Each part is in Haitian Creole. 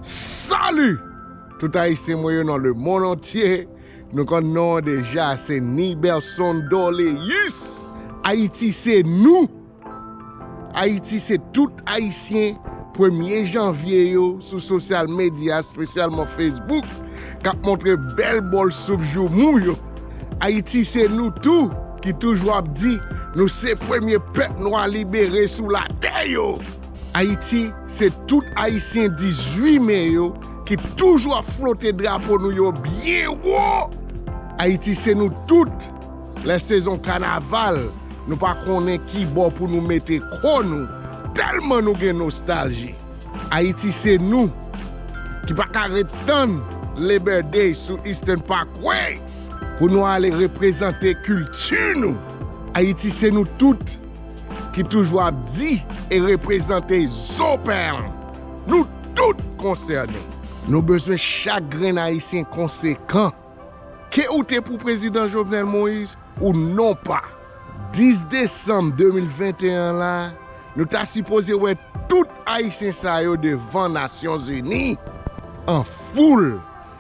Salut tout ayisyen mwen yo nan le mond antye nou konn non an deja se Niberson Dorleus ayiti se nou ayiti se tout ayisyen premye janvye yo sou sosyal medya espesyalman Facebook kap montre bèl bòl soup joumou yo. Ayiti se nou tou ki toujou ap di nou se premye pèp nwa libere sou latè yo! Ayiti se tout Ayisyen 18 me yo ki toujou ap flote drapo nou yo byen wo! Ayiti se nou tout, lè sezon kanaval nou pa konnen ki bò pou nou mete kò nou tèlman nou gen nostalji! Ayiti se nou ki pa ka ret tann Labor Day sou Eastern Parkway pou nou ale reprezante kilti nou. Ayiti se nou tout ki toujou ap di e reprezante zo pen an. Nou tout konsène. Nou bezwen chak grenn Ayisyen konsekan. Ke ou te pou prezidan Jovenel Moïse ou non pa. 10 desanm 2021 an la nou ta sipoze wè tout ayisyen sa yo devan nasyon zini an foul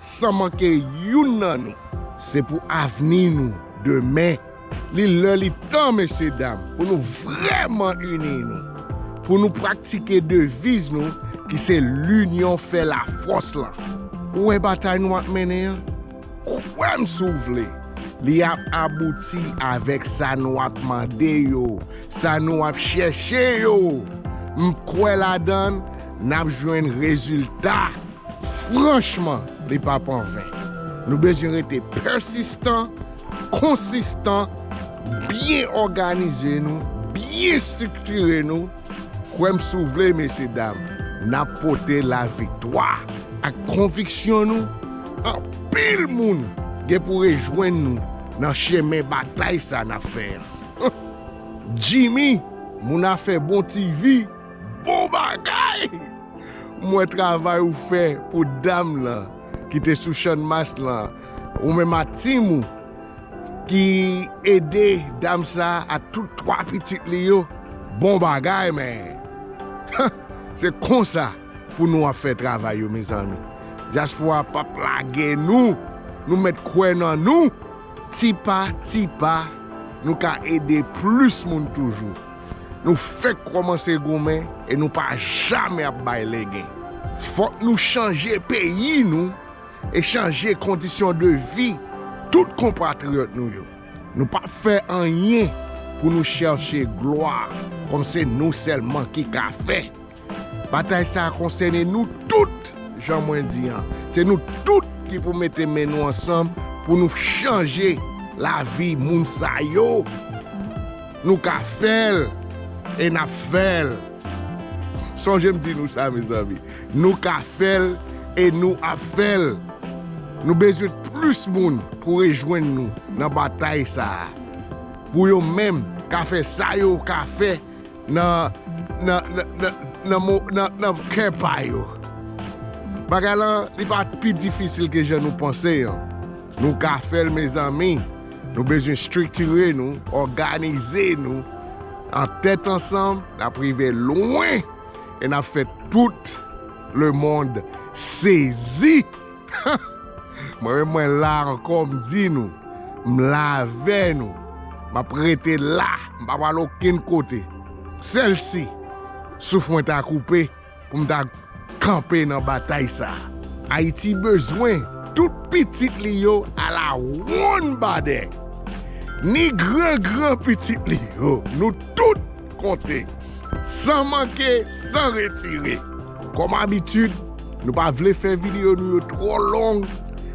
san manke youn nan nou. Se pou avni nou demen. Li lè li tan mesye dam pou nou vrèman ini nou, pou nou praktike deviz nou ki se linyon fè lafòs lan. Ou wè batay nou ap mennen an? Kwè m si w vle, li ap abouti avèk sa nou ap mande yo, sa nou ap chèche yo. M kwè ladan l, n ap jwenn rezilta. Franchman, li pap an ven. Nou bezwen rete pèsistan. konsistan, byen òganize nou, byen striktire nou, kwè m si w vle mesye dam, n ap pote laviktwa ak konviksyon nou, anpil moun gen pou rejwenn nou nan chemen batay sa n ap fè an. Jimmy, moun afè bon ti vi, bon bagay! M wè travay ou fè pou dam lan ki te sou channmas lan Ou menm ak team ou ki ede dam sa ak tout 3 pitit li yo bon bagay men huh se konsa pou nou ap fè travay yo mezanmi diaspora pap lage nou nou mèt kwè nan nou ti pa ti pa nou ka ede plis moun toujou nou fèk kòmanse goumen e nou pa jamè ap bay legen fòk nou chanje peyi nou. e chanje kondisyon de vi tout konpatriyòt nou yo. Nou p ap fè anyen pou nou chèche glwa kòm se nou sèlman ki ka fè. Batay sa a konsène nou tout, jan mwen di an, se nou tout ki pou mete men nou ansanm pou nou chanje lavi moun sa yo. Nou ka fè l e n ap fè l. Sonje m di nou sa, mezanmi, Nou ka fèl e nou ap fèl. Nou bezwen plis moun pou rejwenn nou nan batay sa a, pou yo menm ka fè sa yo ka fè nan kè pa yo. Bagay la li pa pi difisil ke jan nou panse an. Nou ka fèl mezanmi, nou bezwen striktire nou, òganize nou an tèt ansanm nap rive lwen. e nap fè tout le mond sezi mwen menm mwen la ankò m di nou m la avè nou map rete la m pa pral okenn kote sèl si souf mwen ta koupe pou m ta kanpe nan batay sa ayiti bezwen tout pitit li yo ala wonn badè ni gran gran pitit li yo nou tout. konte, san manke, san retire. Kòm abitid, nou pa vle fè videyo nou yo twò long,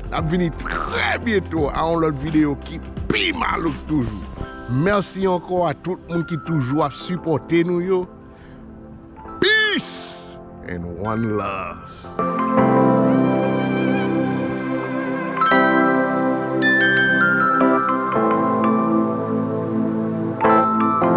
n ap vini trè byento a yon lòt videyo ki pi malouk toujou. Mèsi ankò a tout moun ki toujou ap sipòte nou yo. Peace and one love.